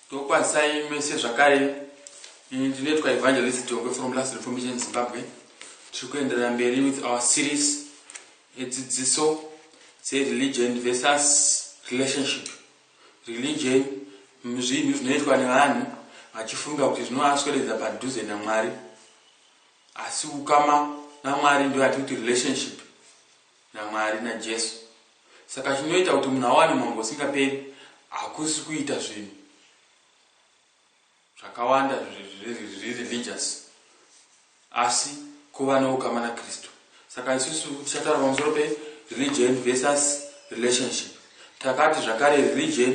Ndokwanisai mese zvakare ini ndinoitwa evangelist Dongwe from Last Reformation Zimbabwe tiri kuenderera mberi with our series edzidziso dzereligion versus relationship religion zvinhu zvinoitwa nevanhu vachifunga kuti zvinovasweredza padhuze namwari asi ukama namwari ndoyati kuti relationship naMwari naJesu. Saka chinoita kuti munhu awane umambo husingaperi hakusi kuita zvinhu zvakawanda zviri religious asi kuva noukama naKristu. Saka isusu tichataura pamusoro pereligion versus relationship. Takati zvakare religion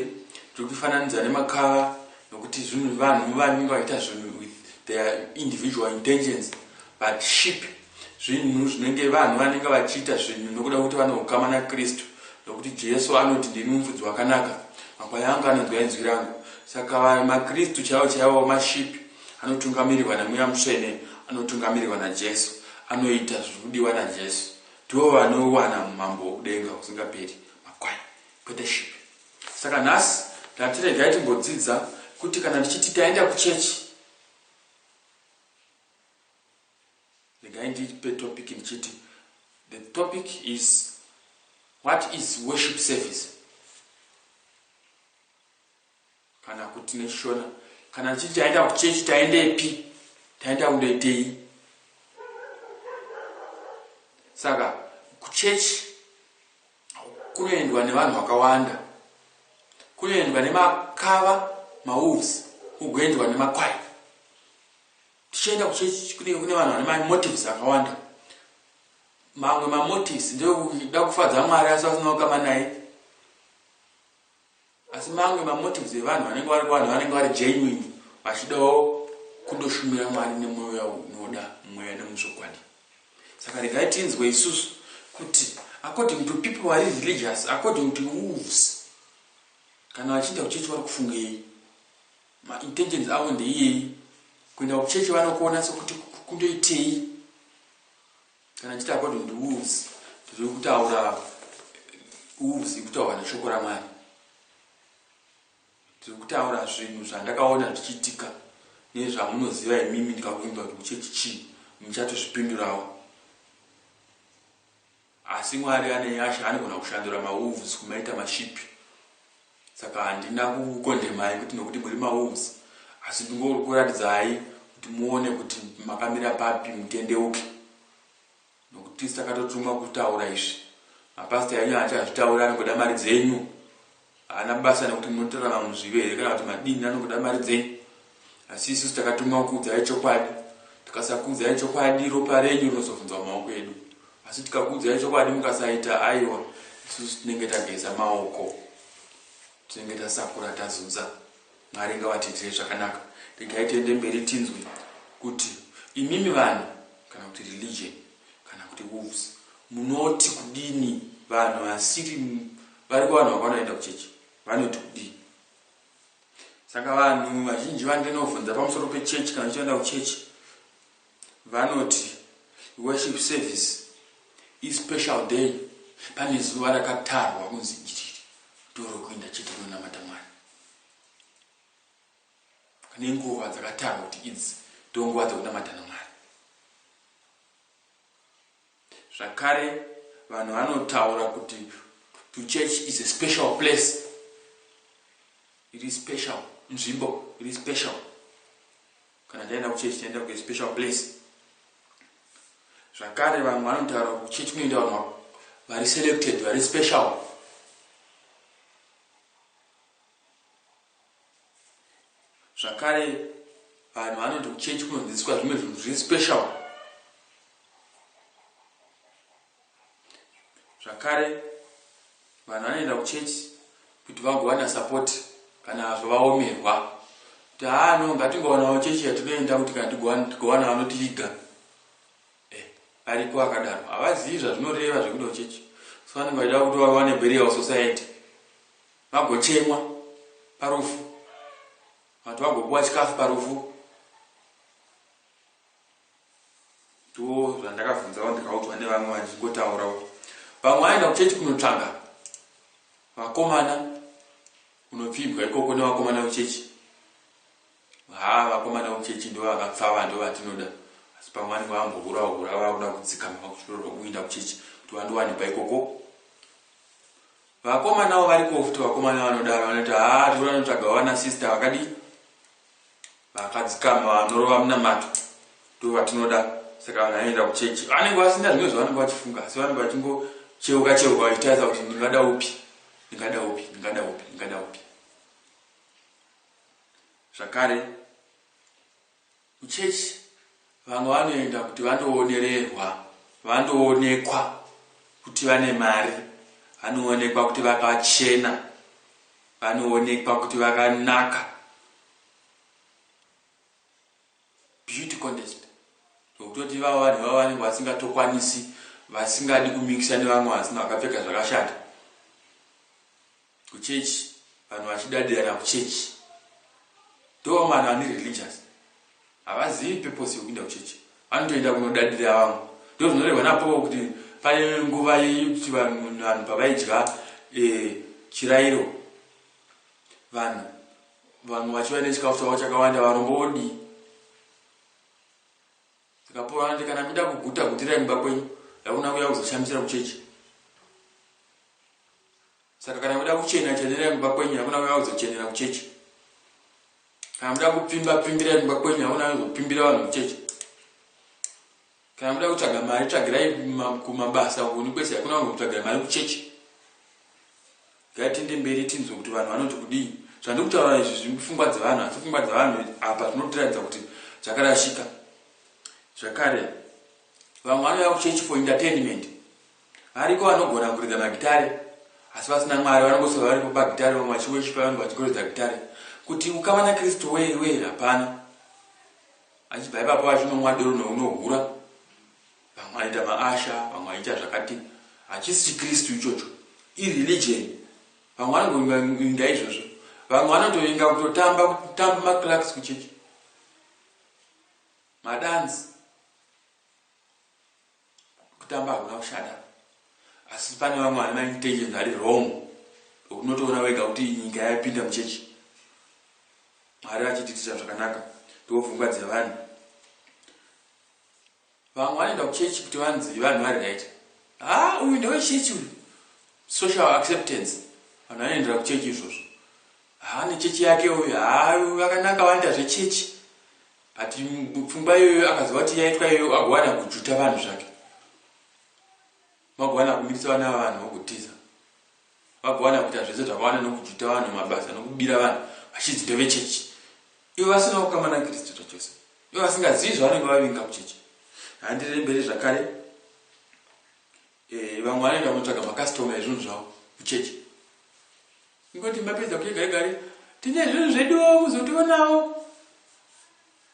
tiri kuifananidza nemakava nokuti zvinhu vanhu vanenge vaita zvinhu with their individual intentions but sheep zvinhu zvinenge vanhu vanenge vachiita zvinhu nokuda kuti vane ukama nakristu nokuti jesu anoti ndini mufudzi wakanaka makwai angu anonzwa inzwi rangu saka makristu chaivo chaivo mashipi anotungamirirwa nemweya mutsvene anotungamirirwa najesu anoita zviri kudiwa najesu ndivo vanowana mumambo wokudenga husingaperi makwai kwete shiri saka nhasi ndati regai timbodzidza kuti kana tichiti taenda kuchechi regai ndipe topic ndichiti the topic is what is worship service kana kuti neshona kana tichiti taenda kuchechi taendepi taenda kundoitei saka kuchechi kunoendwa nevanhu vakawanda kunoendwa nemakava mawolves kugoendwa nemakwai tichienda kuchechi kunenge kune vanhu vane mamotives akawanda mamwe mamotives ndeekuda kufadza mwari asi vasina kukama naye Asi mamwe mamotives evanhu vanenge vari kuvanhu vanenge vari genuine vachidawo kundoshumira Mwari nemwoyo yavo unoda mweya nemuzvokwadi. Saka regai tinzwe isusu kuti according to people vari religious according to wolves kana vachienda kuchechi vari kufungei maintentions avo ndeiyei kuenda kuchechi vanokuona sokuti kundoitei Kana chiti according to wolves tiri kutaura wolves ikutaura neshoko ramwari tiri kutaura zvinhu zvandakaona zvichiitika nezvamunoziva imimi ndikakuimba kuti kuchechi chii muchatozvipindurawo asi mwari ane nyasha anogona kushandura mawolves kumaita mashipi Saka handina kukukondemai kuti nokuti muri maWolves asi ndingorikuradzidzai kuti muone kuti makamira papi mutendeuke nokuti tisu takatotumwa kutaura izvi. Mapastor enyu haachazvitauri anongoda mari dzenyu. Haana basa nokuti munotorarama muzvive here kana kuti madini anongoda mari dzenyu. asi isusu takatumwa kukuudzai chokwadi tikasakuudzai chokwadi ropa renyu rinozovhunzwa mumaoko edu asi tikakuudzai chokwadi mukasaita aiwa isusu tinenge tageza maoko tinenge tasakura tazunza mwari ngavatiitire zvakanaka regai tiende mberi tinzwe kuti imimi vanhu kana kuti religion kana kuti wolves munoti kudini vanhu vasiri vari kuvanhu vakwana vaenda kuchechi vanoti kudii Saka vanhu vazhinji vandinovhunza pamusoro pechechi kana uchitoenda kuchechi vanoti worship service ispecial day pane zuva rakatarwa kunzi iri ndorokuenda chete kunonamata mwari pane nguva dzakatarwa kuti idzi ndonguva dzokunamata namwari Zvakare vanhu vanotaura kuti to church is a special place. It is special. Nzvimbo, it is special. Kana taenda kuchurch, taenda ku a special place. Zvakare vanhu vanotaura kuti church kunoenda vanhu vari selected, vari special. Zvakare vanhu vanoenda kuchechi kunodzidziswa zvimwe zvinhu zviri special. Zvakare vanhu vanoenda kuchechi kuti vagowana support kana zvavaomerwa kuti haa no ngatingowanawo chechi yatinoenda kuti kana tigowana vanotiviga eh, ariko akadaro havazivi zvazvinoreva zvekuda kuchechi so vanenge vachida kuti vawane burial society Vagochemwa parufu. Vanhu vagopuwa chikafu parufu. Ndiwo zvandakavhunzawo ndikaudzwa nevamwe vachingotaurawo. Vamwe vaenda kuchechi kunotsvaga vakomana unopfimbwa ikoko nevakomana vechechi haa vakomana vechechi ndo vakapfava ndo vatinoda asi pamwe vanenge vambohura hura vakuda kudzikama vakutorwa kuenda kuchechi kuti vandowanikwa ikoko Vakomanawo variko futi vakomana vanodaro vanoti haa zvikuru vanotsvaga vana sister vakadii vakadzikama vanorova munamato ndo vatinoda saka vanhu vanoenda kuchechi vanenge vasina zvimwe zvavanenge vachifunga asi vanenge vachingocheuka cheuka vachitarisa kuti ndingada upi ndingada upi ndingada upi ndingada upi zvakare Kuchurch vamwe vanoenda kuti vandoonererwa, vandoonekwa kuti vane mari, vanoonekwa kuti vakachena, vanoonekwa kuti vakanaka. Beauty contest. Zvokutoti ivavo vanhu ivavo vanenge vasingatokwanisi, vasingadi kumikisa nevamwe vanhu vakapfeka zvakashata. Kuchurch vanhu vachidadira kuchurch ndoo vanhu vane religious havazivi purpose yokuinda kuchurch vanotoenda kunodadira vamwe ndo zvinorehwa napovo kuti pane nguva yekuti vanhu vanhu pavaidya eh, chirairo vanhu vanhu vachiva nechikafu chavo chakawanda varombo vodii saka pauro anoti kana muida kuguta gutirai mumba kwenyu yakuna kuya kuzoshamisira kuchechi Saka kana muda kuchena chenerai kumba kwenyu hakuna uya uzochenera kuchechi. Kana muda kupfimba pfimbirai kumba kwenyu hakuna uya uzopfimbira vanhu kuchechi. Kana muda kutsvaga mari tsvagirai kumabasa kuni kwese hakuna vanhu kutsvagira mari kuchechi. Ngatiende mberi tinzwe kuti vanhu vanoti kudii. Zvandiri kutaura izvi zvipfungwa dzevanhu asi pfungwa dzevanhu apa zvinotiratidza kuti zvakarashika. Zvakare vamwe vanouya kuchechi for entertainment. Variko vanogona kuridza magitare asi vasina Mwari vanongosova varipo pagitare vamwe vachiweshipa vamwe vachigoridza gitare kuti ukama naKristu wei wei hapana. Vachibva ipapo vachinonwa doro neunohura vamwe vanoita maasha vamwe vachiita zvakati hachisi chiKristu ichocho ireligion vamwe vanongovinga izvozvo vamwe vanotovinga kutotamba kutamba maclarks kuchechi madanzi Kutamba hakuna kushata asi pane vamwe vane maintentions ari wrong ekuti unotoona wega kuti nyika yapinda muchechi mwari vachitiitira zvakanaka ndopfungwa dzevanhu vamwe vanoenda kuchechi kuti vanzi vanhu vari right ha uyu ndewechechi uyu social acceptance vanhu vanoendera kuchechi izvozvo ha nechechi yake uyu ha vakanaka vanoita zvechechi But pfumba iyoyo akaziva kuti yaitwa iyoyo agowana kujuta vanhu zvake. Magowana kumirisa vana vavanhu vogutiza. Vagowana kuita zvese zvakawana nokujuta vanhu mabasa nokubira vanhu vachinzi ndevechechi. Ivo vasina kukama naKristu zvachose. Ivo vasingazivi zvavanenge vavinga kuchechi. Handiremberi zvakare. Ehe vamwe vanoenda kunotsvaga macustomer ezvinhu zvavo kuchechi. Ingoti mapedza kuye gare gare tine zvinhu zveduwo muzotionawo.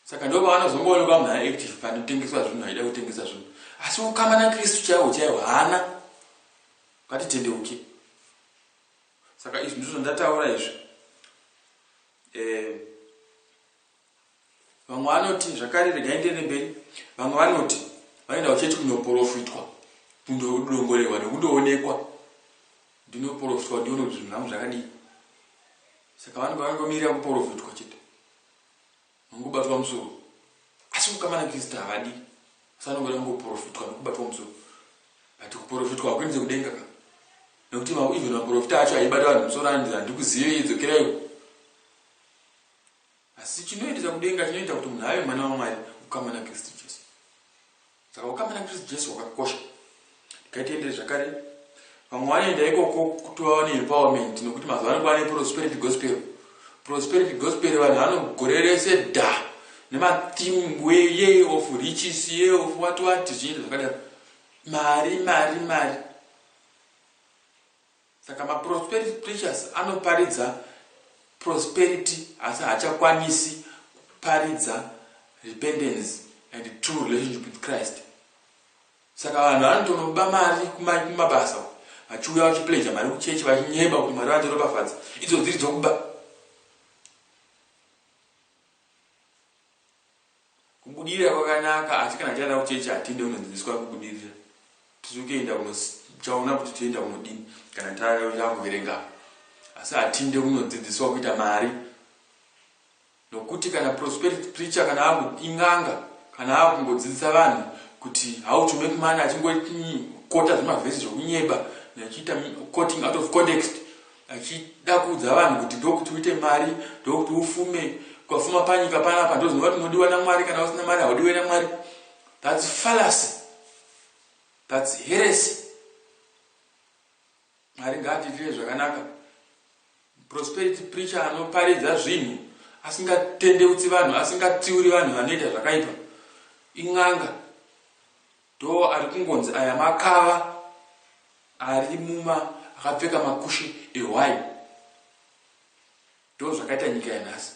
Saka ndo pavanozongoona pamunhu ari active panotengeswa zvinhu haida kutengesa zvinhu. Asi ukama naKristu chaiwo chaiwo haana. Ngatitendeuke. Saka izvi ndizvo zvandataura izvi. Eh, Vamwe vanoti zvakare regai ndiende mberi. Vamwe vanoti vanoendawo chete kunoporofitwa, kundodongorerwa nekundoonekwa ndinoporofitwa ndione kuti zvinhu zvangu zvakadii. Saka vanenge vanongomirira kuporofitwa chete, vanongobatwa musoro. Asi kukamana Kristu havadi, asi vanongoda kungoporofitwa nekubatwa musoro. But kuporofitwa hakuendese kudenga ka, nekuti even maporofita acho aibata vanhu musoro anzi handikuzive, dzokerai uko. Asi chinoendesa kudenga chinoita kuti munhu ave mwana waMwari, ukama naKristu Jesu. Saka ukama naKristu Jesu hwakakosha. Regai tiendere zvakare. Vamwe vanoenda ikoko kutova vane empowerment nokuti mazuva ano kwane prosperity gospel. Prosperity gospel vanhu vanogore rese dha nematheme weye of riches ye of what what zviinda zvakadaro. Mari, mari, mari. Saka ma prosperity preachers anoparidza prosperity asi haachakwanisi kuparidza repentance and true relationship with Christ. Saka vanhu vanotonoba mari kumabasa uku vachiuya vachipleja mari kuchechi vachinyeba kuti mwari vandiropafadza idzo dziri dzokuba Kubudirira kwakanaka asi kana taenda kuchechi hatiende kunodzidziswa kubudirira. Tisu kuenda kunochaona kuti toenda kunodini kana takuverenga asi hatiende kunodzidziswa kuita mari nokuti kana prosperity preacher kana akuinganga kana akungodzidzisa vanhu kuti how to make money achingokota zvemavhesi zvekunyeba nechiita coting out of context Achida kuudza vanhu kuti ndokuti uite mari, ndokuti ufume, ukafuma panyika panapa ndozinova kuti unodiwa naMwari, kana usina mari haudiwe naMwari. That's fallacy. That's heresy. Mwari ngaatiitire zvakanaka. Prosperity preacher anoparidza zvinhu asingatendeutsi vanhu, asingatsiuri vanhu vanoita zvakaipa. In'anga. Do ari kungonzi aya makava ari muma akapfeka makushe ehwai. Do zvakaita nyika yanhasi.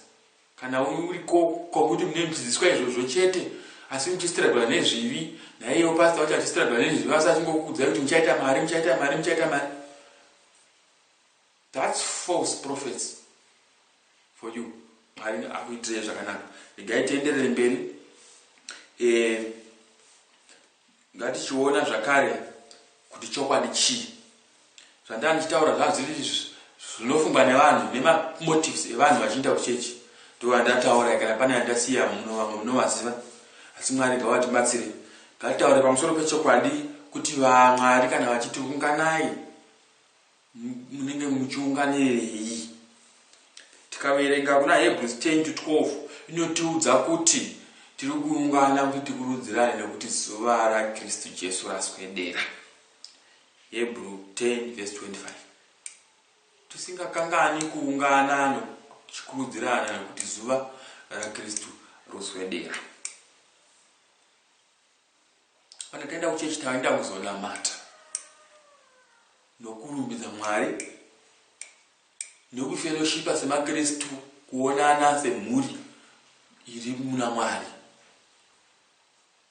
Kana uri ko kwakuti mune muchidzidziswa izvozvo chete asi muchistragula nezvivi naiyewo pasta wacho achistragula nezvivi asi achingokuudzai kuti muchaita mari muchaita mari muchaita mari. That's false prophets for you Mwari akuitirei zvakanaka regai tienderere mberi eh, ngatichiona zvakare kuti chokwadi chii zvandanga ndichitaura zvanzi izvi zvinofungwa nevanhu nemamotives evanhu vachiinda kuchechi ndovandataura kana pane yandasiya muno vamwe munovaziva asi mwari ngavatibatsire ngatitaure pamusoro pechokwadi kuti vamwari kana vachiti unganai munenge muchiunganirei tikaverenga kuna hebrews 10 to 12 inotiudza kuti tiri kuungana kuti tikurudzirane nekuti zuva rakristu jesu raswedera hebrew 10 vs 25 tisingakangani kuungana nokuchikurudzirana nekuti zuva rakristu roswedera Kana taenda kuchechi taenda kuzonamata nokurumbidza Mwari nokufellowshipa semaKristu, kuonana semhuri iri muna Mwari,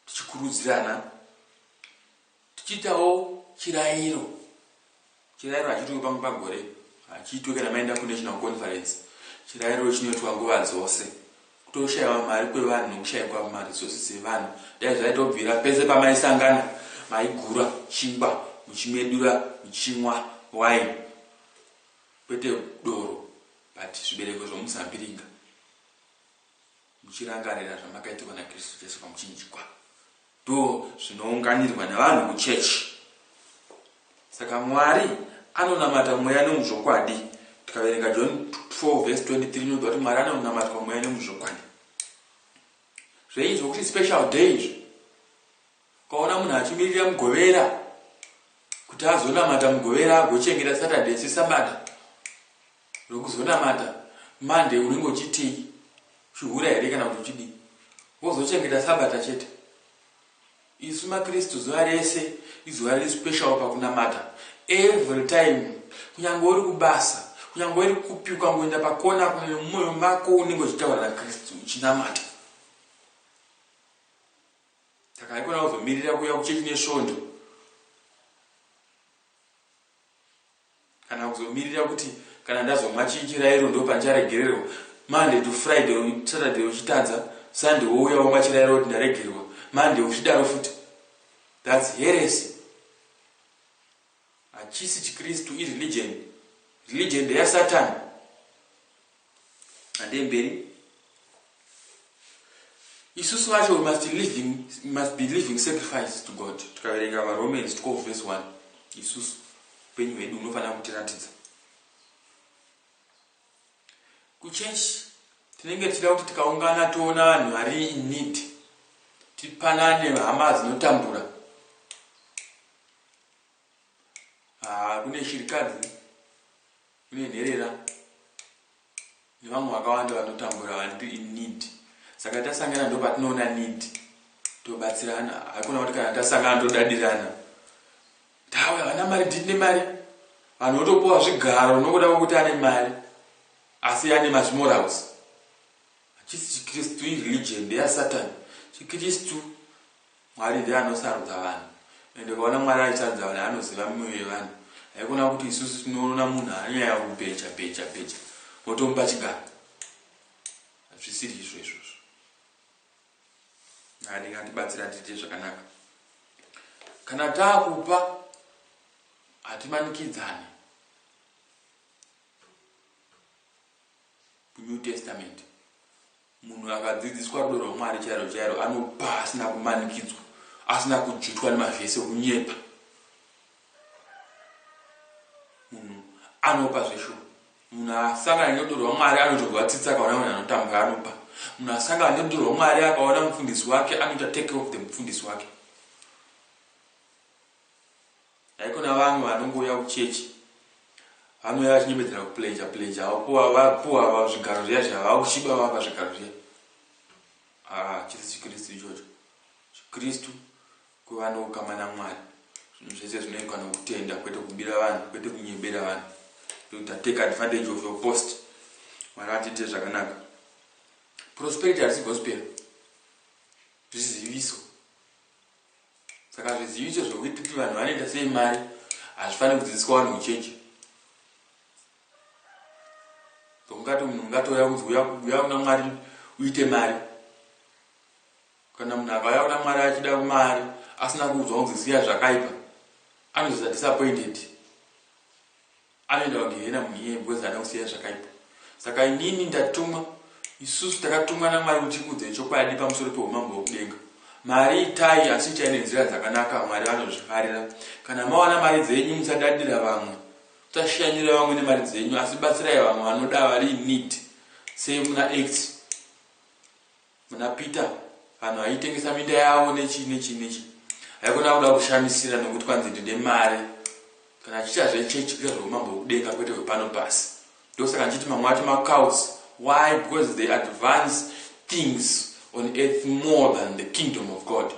tichikurudzirana, tichiitawo chirayiro Chirairo hachiitwe pamwe pagore, hachiitwe kana maenda kuNational Conference. Chirairo chinoitwa nguva dzose. Kutoshaiwa mari kwevanhu nekushaikwa maresources evanhu. Dai zvaitobvira pese pamaisangana maigura chingwa muchimedura muchimwa wine kwete doro but zvibereko zvemuzambiringa. Muchirangarira zvamakaitirwa naKristu Jesu pamuchinjikwa, ndo zvinounganirwa nevanhu kuchechi. Saka Mwari anonamata mweya nemuzvokwadi. Tikaverenga John 4 vhesi 23 inobva kuti Mwari anonamatwa mweya nemuzvokwadi. Zveizvo kuti special day izvo. Ukaona munhu achimirira mugovera kuti azonamata mugovera agochengeta Saturday sesabata rokuzonamata Monday unenge uchitii uchihura here kana kuti uchidii wozochengeta sabata chete isu makristu zuva rese izuva riri special pakunamata every time kunyange uri kubasa kunyange uri kupi ukangoenda pakona kune mumwoyo mako unenge uchitaura nakristu uchinamata Takaikona kuzomirira kuya kuchechi nesvondo kana kuzomirira kuti kana ndazomwa chirairo ndopandicharegererwa monday to friday saturday uchitadza sunday wouya womwa chirairo kuti ndaregerwa monday uchidaro futi thats heresi Hachisi chikristu i religion. Religion ndeya satan. Handei mberi. Isusu vacho we must living, must be living sacrifice to God. Tikaverenga va Romans 12 verse 1. Isusu upenyu hwedu unofanira kutiratidza. Kuchurch tinenge tichida kuti tikaungana toona vanhu vari in need. Tipanane hama dzinotambura. Ah, kune shirikadzi kune nherera nevamwe vakawanda vanotambura vanti inid saka tasangana ndo patinoona need tobatsirana haikona kuti kana tasangana todadirana tawe havana mari ndine mari vanhu votopuwa zvigaro nokuda kwekuti ane mari asi ane mazvimorals hachisi chikristu ireligion ndeyasatani chikristu Mwari ndiye anosarudza vanhu ende ukaona Mwari achisarudza vanhu anoziva mioyo yevanhu haikona kuti isusu tinoona munhu anyaya yekubheja bheja bheja motomupa chigaro hazvisiri izvo izvozvo anenge atibatsira tiite zvakanaka kana taakupa hatimanikidzane new testament Munhu akadzidziswa rudo rwaMwari chairo chairo anopa asina kumanikidzwa, asina kudzvutwa nemavhesi okunyepa. Munhu anopa zveshuwa. Munhu asangana nerudo rwaMwari anotonzwa tsitsi akaona munhu anotambura anopa. Munhu asangana nerudo rwaMwari akaona mufundisi wake anoita take off the mufundisi wake. Haikona vamwe vanongouya kuchurch vanouya vachinyemedzera kupledger pledger vapuwa vapuwa ava zvigaro zviya zviya vakushiba vapa zvigaro zviya ah chisi chikristu ichocho chikristu kuva noukama namwari zvinhu zvese zvinoitwa nokutenda kwete kubira vanhu kwete kunyebera vanhu ndokuti take advantage of your post mwari vatiite zvakanaka prosperity harisi gospel zviziviso saka zviziviso zvekuti kuti vanhu vanoita sei mari hazvifaniri kudzidziswa vanhu muchechi zokungati munhu ungatouya kunzi uya kuna mwari uite mari kana munhu akauya kuna mwari achida mari asina kuudzwa kunzi siya zvakaipa anozoita disappointed Anoenda pagehena munhu iyeye because haana kusiya zvakaipa. Saka inini ndatumwa, isusu takatumwa naMwari kuti tikuudzei chokwadi pamusoro peumambo hwekudenga. Mari itai asi itai nenzira dzakanaka, Mwari vanozvifarira. Kana mawana mari dzenyu musadadira vamwe. Musashanyira vamwe nemari dzenyu asi batsirai vamwe vanoda vari in need. Save muna Acts. Muna Peter vanhu vaitengesa minda yavo nechii nechii nechii haikona kuda kushamisira nekuti kwanzi ndine mari kana achiita zvechechi kuita zveumambo hwekudenga kwete hwepano pasi ndosaka ndichiti mamwe acho macults why because they advance things on earth more than the kingdom of god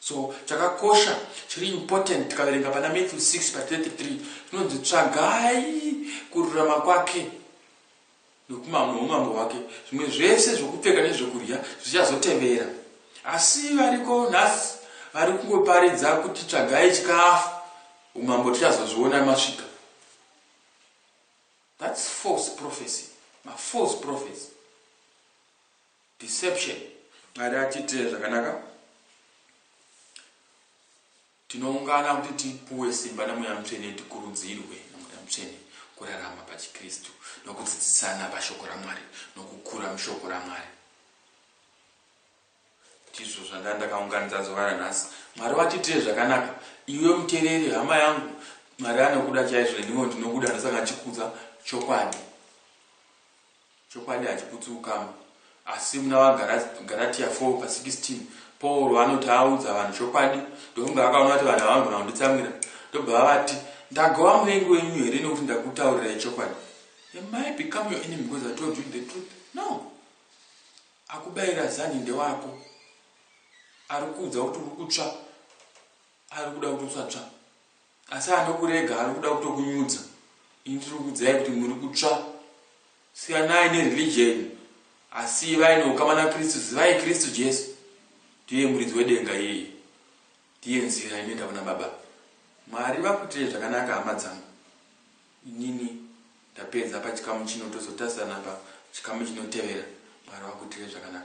so chakakosha chiri important tikaverenga pana matthew 6 pa 33 tinonzi tsvagai kururama kwake noumambo hwake, zvimwe zvese zvokupfeka nezvokudya zvichazotevera. Asi variko nhasi vari kungoparidza kuti tsvagai chikafu, umambo tichazozviona masvika. That's false prophecy, ma false prophets. Deception. Mwari atiitire zvakanaka. Tinoungana kuti tipuwe simba naMweya Mutsvene tikurudzirwe naMweya Mutsvene kurarama pachiKristu nokudzidzisana paShoko raMwari nokukura muShoko raMwari. Ndizvo zvandanga ndakaunganidza zuva ranhasi. Mwari vatiitire zvakanaka. Iwe mutereri, hama yangu, Mwari anokuda chaizvo, neniwo ndinokuda, ndosaka ndichikudza chokwadi. Chokwadi hachiputsi ukama. Asi muna vaGaratiya 4 pa 16 Pauro anoti audza vanhu chokwadi, ndofunga akaona kuti vanhu ava vanogona kunditsamwira, ndobva avati, Ndagova muvengi wenyu here nekuti ndakutaurirai chokwadi? Am I become your enemy because I told you the truth? No! Akubaira zanhi ndewako. Ari kuudza kuti uri kutsva, ari kuda kuti usatsva. Asi anokurega arikuda kutokunyudza ini tirikuudzai kuti muri kutsva siyanai nereligion asi ivai neukama nakristu zivai kristu jesu ndiye muridzi wedenga iyeye ndiye nzira inoenda kuna baba mwari vakuitirei zvakanaka hama dzangu inini ndapedza pachikamu chino tozotarisana pachikamu chinotevera mwari vakuitirei zvakanaka